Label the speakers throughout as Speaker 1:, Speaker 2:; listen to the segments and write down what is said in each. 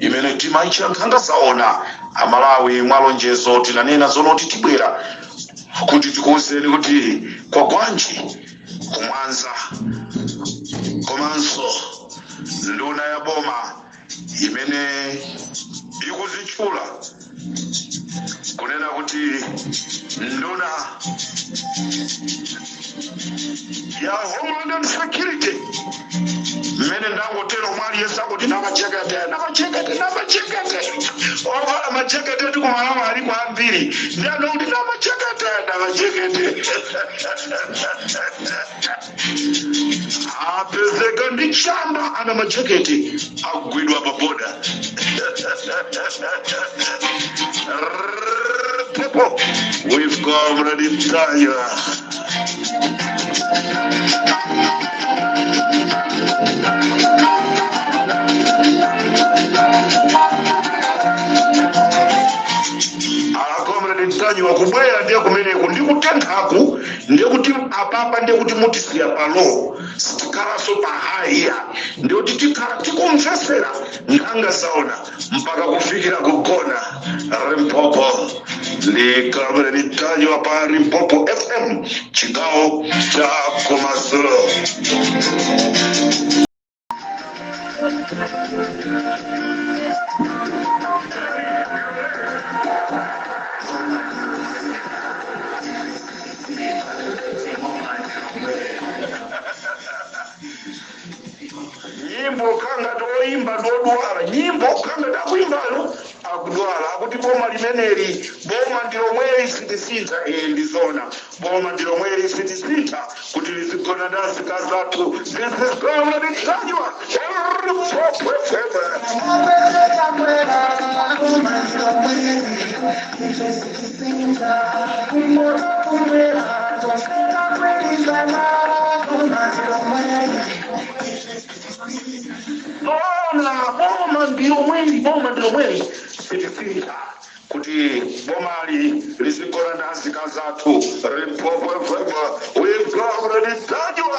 Speaker 1: imene timaitcha nkhanga zaona amalawi mwa lonjezo tinanena zoonati tibwera kuti tikuwuzeni kuti kwa gwanji ku Mwanza komanso nduna ya boma imene ikuzitchula kunena kuti nduna ya homeland and security mmene ndangotero mwaliyesa akuti namajekete namajekete namajekete ovala majekete ndi kumalamu aliko ambiri ndi anokuti namajekete namajekete apezeka ndi chamba anamajekete agwidwa pa border people we've come ready tire akomredi Ntanyiwa akubwera ndiye kumeneko ndikutenthaku ndiye kuti apapa ndiye kuti mutisiya pa low sitikhalanso pa high iya ndiye kuti tikhala tikumvesera nkhanga zaona mpaka kufikira kugona Limpopo ndi kalabwera Ntanyiwa pa Limpopo fm chigawo cha kumadzulo nyimbo kanga oyimba odwala nyimbo kanga akuyimbawo akudwala akuti boma limeneli boma ndilomweli sitisintha ee ndizona boma ndi lomweli sitisintha kuti lizigona ndi azikazi athu zizizgawa ndi kanywa Bona boma ndi lomweli boma ndi lomweli sitisintha kuti bomali lizigona ndi azikazi athu rimpopwepwepwe wibwaureditajwa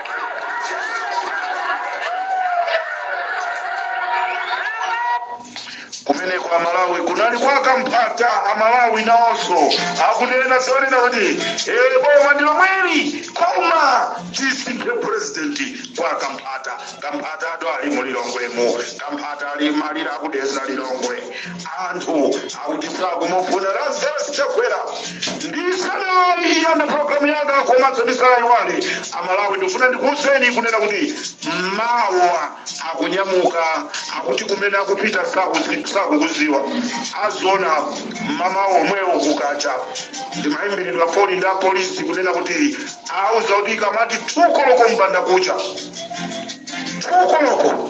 Speaker 1: kumeneko amalawi kunali kwa Kamphata amalawi nawonso akunena zonena kuti ee boma ndi lomweli koma tisinthe purezidenti kwa Kamphata Kamphata adali mu lilongwemu Kamphata ali malira a ku Dedza lilongwe anthu akuti sakumufuna lazarus chakwera ndisanayambe programu yanga komanso ndisanaiwale amalawi ndifuna ndikuwuzeni kunena kuti mawa akunyamuka akuti kumene akupita sakuzi- sakukuziwa aziona mmawa omwewo kukacha ndinayimbiridwa foni ndi apolisi kunena kuti awuza kuti ikamati tukoloko mbanda kucha tukoloko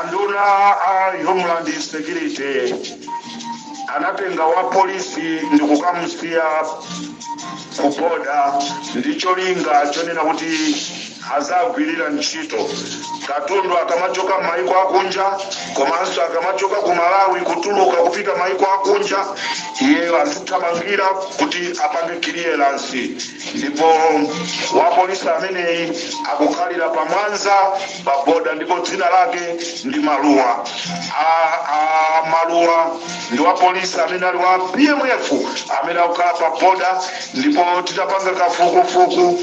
Speaker 1: anduna a homeland security anatenga wa polisi ndi kukamusiya kuboda ndi cholinga chonena kuti azigwirira ntchito katundu akamachoka maiko akunja komanso akamachoka ku malawi kutuluka kupita maiko akunja iyeyo azithamangira kuti apange kiliyeransi ndipo wapolisi ameneyi akukhalira pa mwanza pa boda ndipo dzina lake ndi maluwa a, a maluwa ndi wapolisi amene ali wa pmf amene akukhala pa boda ndipo titapanga kafukufuku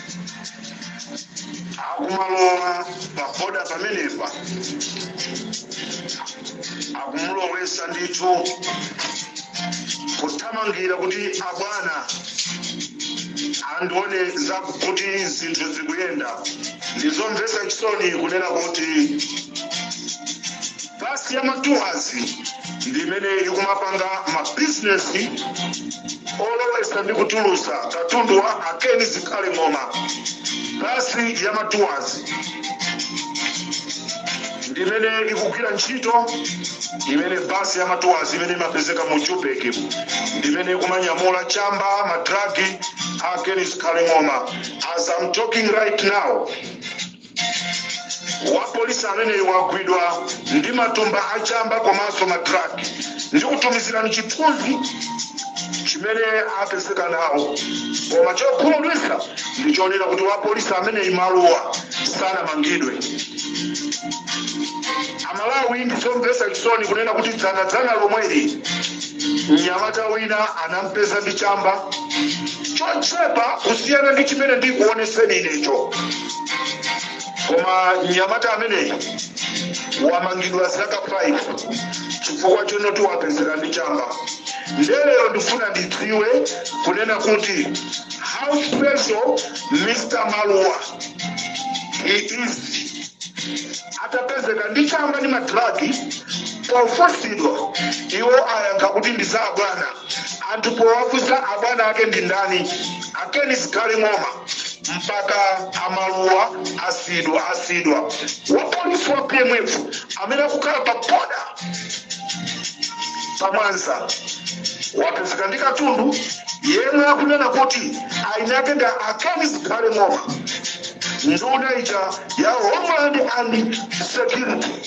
Speaker 1: akumalowa paboda pamenepa akumulowesa ndithu kuthamangira kuti abwana andione kuti zinthu zikuyenda ndizomvetsa chisoni kunena kuti Bus ya ma tours ndi imene ikumapanga ma business olowesa ndi kutulutsa katundu wa a Ken Zikhale Ng'oma. Bus ya ma tours ndi imene ikugwira ntchito imene bus ya ma tours imene imapezeka mu Joburg mu ndi imene ikumanyamula chamba madragi a a Ken Zikhale Ng'oma. As I'm talking right now, wapolisi ameneyu wagwidwa ndi matumba a chamba komanso madragi ndikutumizirani chithunzi chimene apezeka nawo koma chokhumudwitsa ndi chonena kuti wapolisi ameneyu maluwa sanamangidwe amalawi ndi zomvetsa chisoni kunena kuti dzanadzana lomweli mnyamata wina anampeza ndi chamba chochepa kusiyana ndi chimene ndikuoneseni inecho koma mnyamata ameneyi wamangidwa zaka 5 chifukwa chonoti wapezeka ndi chamba ndiye lero ndikufuna ndidziwe kunena kuti how special mr maluwa he is atapezeka ndi chamba ndi ma drugs pofunsidwa iwo ayankha kuti ndi za abwana anthu powafunsa abwana ake ndi ndani a Ken Zikhale Ng'oma mpaka amaluwa asiyidwa asiyidwa wapolisi wa pmf amene akukhala pa boda pa mwanza wapezeka ndi katundu yemwe akunena kuti eni ake ndi a Ken Zikhale Ng'oma nduna ija ya homeland and security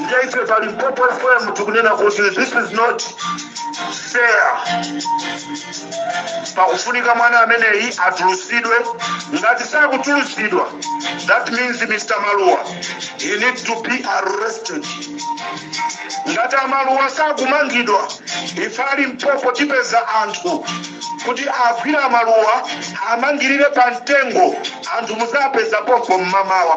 Speaker 1: Ndiye ife pa Limpopo FM tikunena kuti this is not fair. Pakufunika mwana ameneyi atulusidwe. Ngati sakutulusidwa, that means Mr. Maluwa, he need to be arrested. Ngati amaluwa sakumangidwa, Ife a Limpopo tipeza anthu kuti agwire a Maluwa awamangirire pa mtengo anthu muzapeza pompo mmamawa.